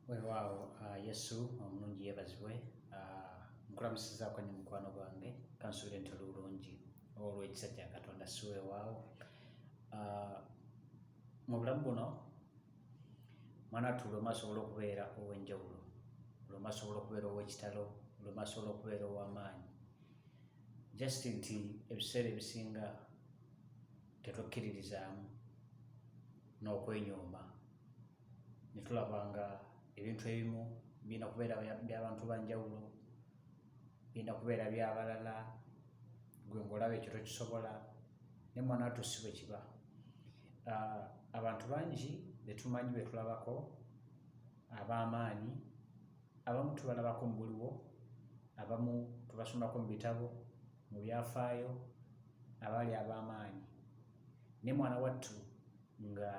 weewaawo ah, yesu omulungi yeebazibwe ah, nkulamusizaako ne mukwano gwange kansuubire nti oli bulungi olw'ekisa kya katonda si weewaawo ah, mu bulamu buno mwana tu lwema asobola okubeera ow'enjawulo lwema asobola okubeera ow'ekitalo lwema asobola okubeera ow'amaanyi just nti ebiseera ebisinga tetwekkiririzaamu n'okwenyooma ne tulaba nga ebintu ebimu birina kubeera byabantu banjawulo birina kubeera byabalala gwe ngaolaba ekyo tokisobola ne mwana watu si bwe kiba ah, abantu bangi betumanyi betulabako ab'amaanyi abamu tubalabako mu buliwo abamu tubasomako mu bitabo mu byafaayo abaali ab'amaanyi ne mwana wattu nga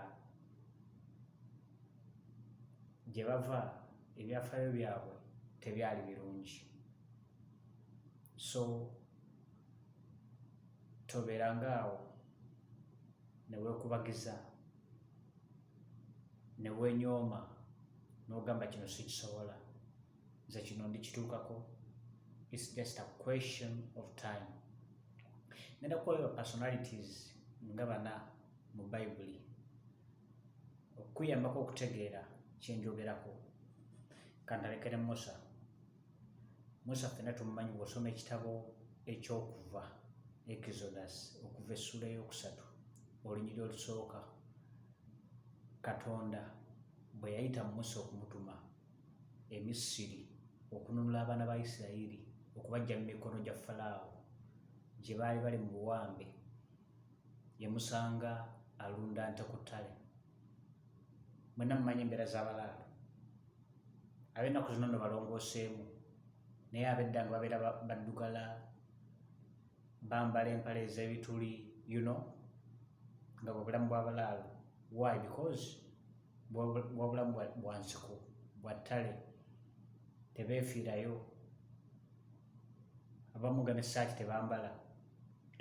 gye bava ebyafaayo byabwe tebyali birungi so tobeeranga awo ne weekubagiza ne weenyooma n'ogamba kino sikisobola nze kino ndikituukako its just a question of time nenda kuwayo personalities nga bana mu Bayibuli okukuyambako okutegeera kye njogerako kantalekere musa musa ffena tumumanyi bw'osoma ekitabo ekyokuva exodus okuva essula eyokusatu olunyiri olusooka katonda bwe yayita musa okumutuma emisiri okununula abaana ba isirayiri okubajja mu mikono gya falaawo gye baali bali mu buwambe yemusanga alunda nte ku ttale mwena mumanyi embeera z'abalaalo ab'ennaku zino no balongooseemu naye abedda nga babeera baddugala bambala empale ez'ebituli you know nga bwebulamu bw'abalaalo why because bwabulamu bwa nsiko bwa ttale tebeefiirayo abamu nga nessaati tebambala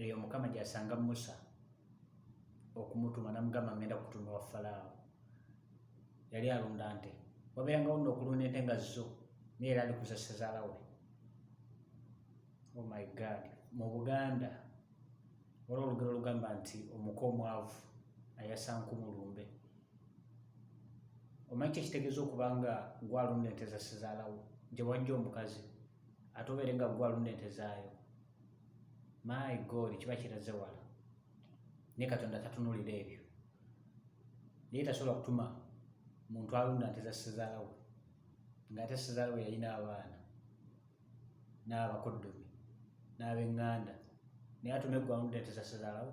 eyo mukama gyasanga musa okumutuma namugamba ngenda kutuma wa falaawo yali alunda nte wabeerangawo nno okulunda ente nga zo naye era ali kuza ssezaala we oh my god mu buganda waliwo olugero olugamba nti omuka omwavu ayasankumulumbe omanyi kyekitegeeza okuba nga gwalunda ente za sizaalawo gye wajja omukazi ate obeere nga gwalunda ente zaayo my god kiba kiraze wala naye katonda tatunulira ebyo naye tasobola kutuma muntu alunda nte za sizaalawo nga ate sizaalawo yalina abaana n'abakoddomi n'abenganda naye atume gwalunda ente za sizaalawo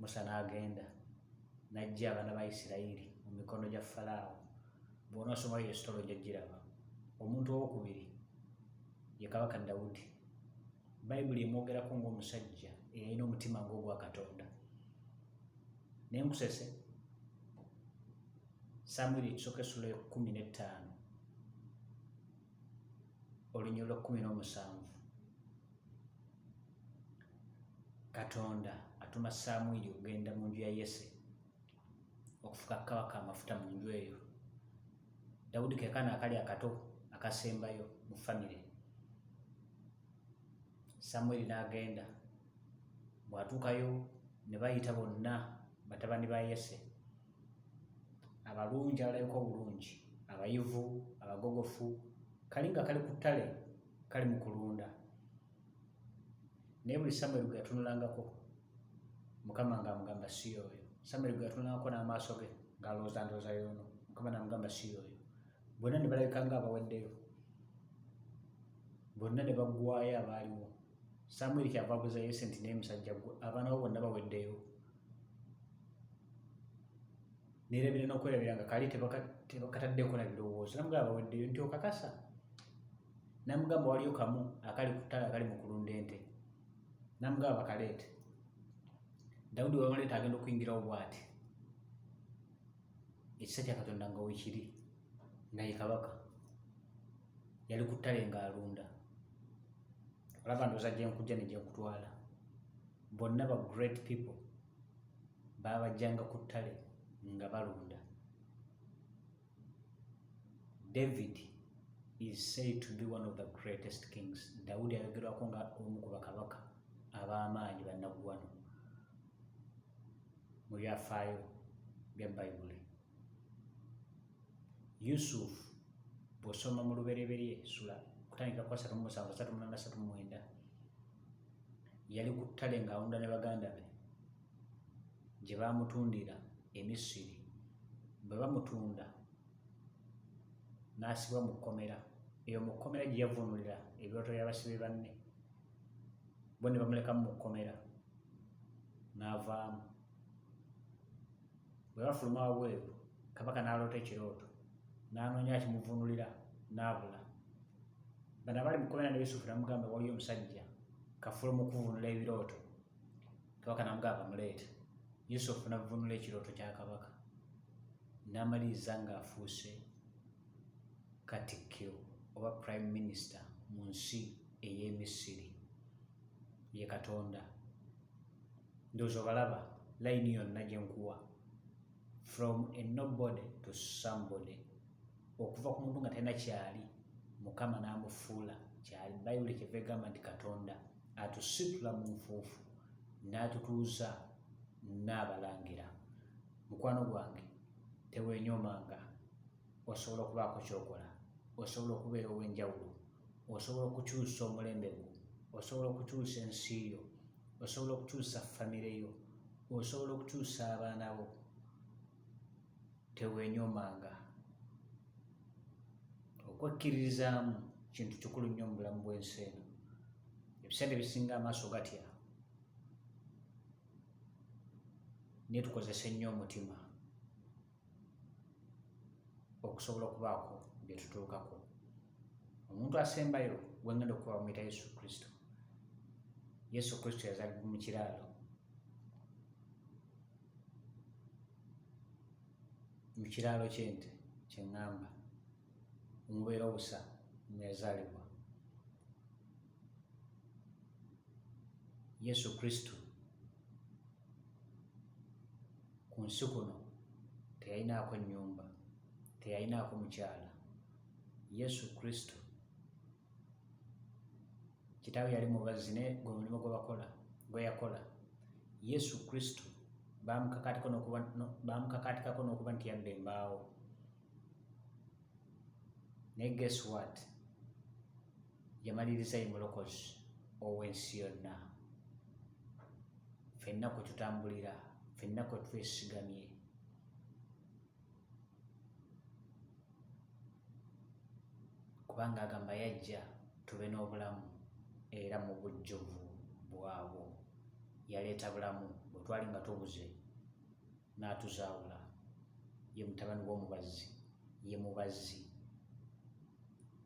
musa n'agenda n'ajja abaana ba isirayiri mu mikono gya falaawo bw'onoosoma eyo esitolo ojja giraba omuntu owokubiri ye kabaka dawudi bayibuli emwogerako ng'omusajja eyalina omutima ng'ogwa katonda naye musese samwiri ekisooka essula ekumi n'ettaano olunyolo kkumi n'omusanvu katonda atuma samwiri okugenda mu nju ya yese okufuka kabaka amafuta mu nju eyo dawudi kekana akali akato akasembayo mu famire samwiri n'agenda bw'atuukayo ne bayita bonna batabani ba yese abalungi abalabika obulungi abayivu abagogofu kali nga kali ku ttale kale mu kulunda naye buli samweri gwe yatunulangako mukama nga amugamba si oyo samweri gwe yatunulangako n'amaaso ge ng'alowooza ndowooza yoono mukama namugamba si oyo bonna ne balabika nga abaweddeyo bonna ne baggwayo abaaliwo samweri kyava abuza yese nti naye musajja gwe abaana bo bonna baweddeyo nerabira nokwerabira nga kali tebakataddeko na birowoozo namugamba baweddeyo nti okakasa namugamba waliyo kamu akali kutala akali mukulunda ente namugamba bakaleete dawudi wamaleeta agenda okuyingirawo bwati ekisa kya katonda nga wekiri naye kabaka yali ku ttale nga alunda olaba ndoza gyenkujja ne gyekutwala bonna ba great people baabajjanga ku ttale nga balunda david is said to be one of the greatest kings dawudi ayogerwako nga omu ku bakabaka ab'amaanyi bannaggwano mu byafaayo bya bayibuli Yusuf bw'osoma mu lubereberye sula kutandika kwa satu musanvu satu munana satu mwenda yali ku ttale ng'awunda ne baganda be gye baamutundira e Misiri bwe bamutunda n'asibwa mu kkomera eyo mu kkomera gye yavunulira ebirooto by'abasibe banne bo ne bamulekamu mu kkomera n'avaamu Bwe bafuluma wabweru, kabaka n'aloota ekirooto, n'anoonya akimuvunulira, n'abula. Bano abali mu kkomera ne Yusufu namugamba, waliyo omusajja kafuluma okuvunula ebirooto. Kabaka namugamba, muleete. Yusufu navunula ekirooto kya kabaka, n'amaliriza ng'afuuse katikkiro oba prime minister mu nsi ey'e Misiri. ye katonda ndozo balaba layini yonna gye nkuwa from a nobody to somebody okuva ku muntu nga talina kyali mukama n'amufuula kyali bayibuli kyeva egamba nti katonda atusitula mu nfuufu n'atutuuza n'abalangira mukwano gwange tewenyoomanga osobola okubaako kyokola osobola okubeera ow'enjawulo osobola okukyusa omulembe gwo osobola okukyusa ensi yo osobola okukyusa famire yo osobola okukyusa abaana bo teweenyomanga okwekkiririzaamu kintu kikulu nnyo mu bulamu bw'ensi eno ebiseera ebisinga amaaso gatya naye tukozese nnyo omutima okusobola okubaako bye tutuukako omuntu asembayo gwe ngenda okuba bamuyita yesu kristo yesu kristo yazalibwa mu kiraalo mu kiraalo kyente kyeŋŋamba omubeera obusa mwe yazaalibwa Yesu Kristo ku nsi kuno teyalinaako nnyumba, teyalinaako mukyala. Yesu Kristo kitaawe yali mubazzi naye gwe mulimu gwe bakola gwe yakola. Yesu Kristo bamukakaatikako n'okuba nti yabba embaawo naye guess what yamaliriza ye mulokozi ow'ensi yonna fenna kwe tutambulira fenna kwe twesigamye kubanga agamba yajja tube n'obulamu era mu bujjuvu bwabwo yaleeta bulamu bwe twali nga tubuze n'atuzaawula ye mutabani w'omubazzi ye mubazzi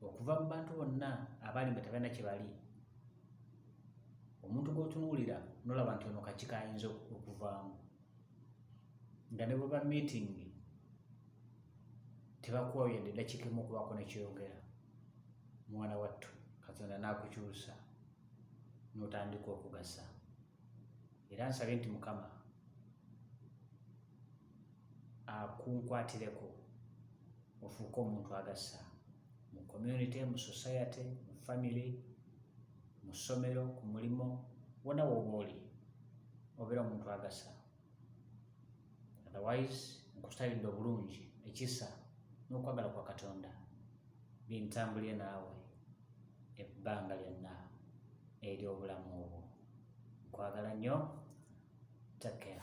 okuva mu bantu bonna abaali nga tebalina kye bali omuntu gw'otunuulira nolaba nti ono kaki kayinza okuvaamu nga ne bweba miitingi tebakuwayo yadde eddakiika emu okubaako nekyeyogera mwana wattu katonda n'akukyusa n'otandika okugasa era nsabe nti mukama akunkwatireko ofuuke omuntu agasa mu community mu society mu family mu ssomero ku mulimu wona woba oli obeera omuntu agasa otherwise nkusalidde obulungi ekisa n'okwagala kwa katonda bintambulire naawe ebbanga lyonna ery'obulamu obwo nkwagala nnyo take care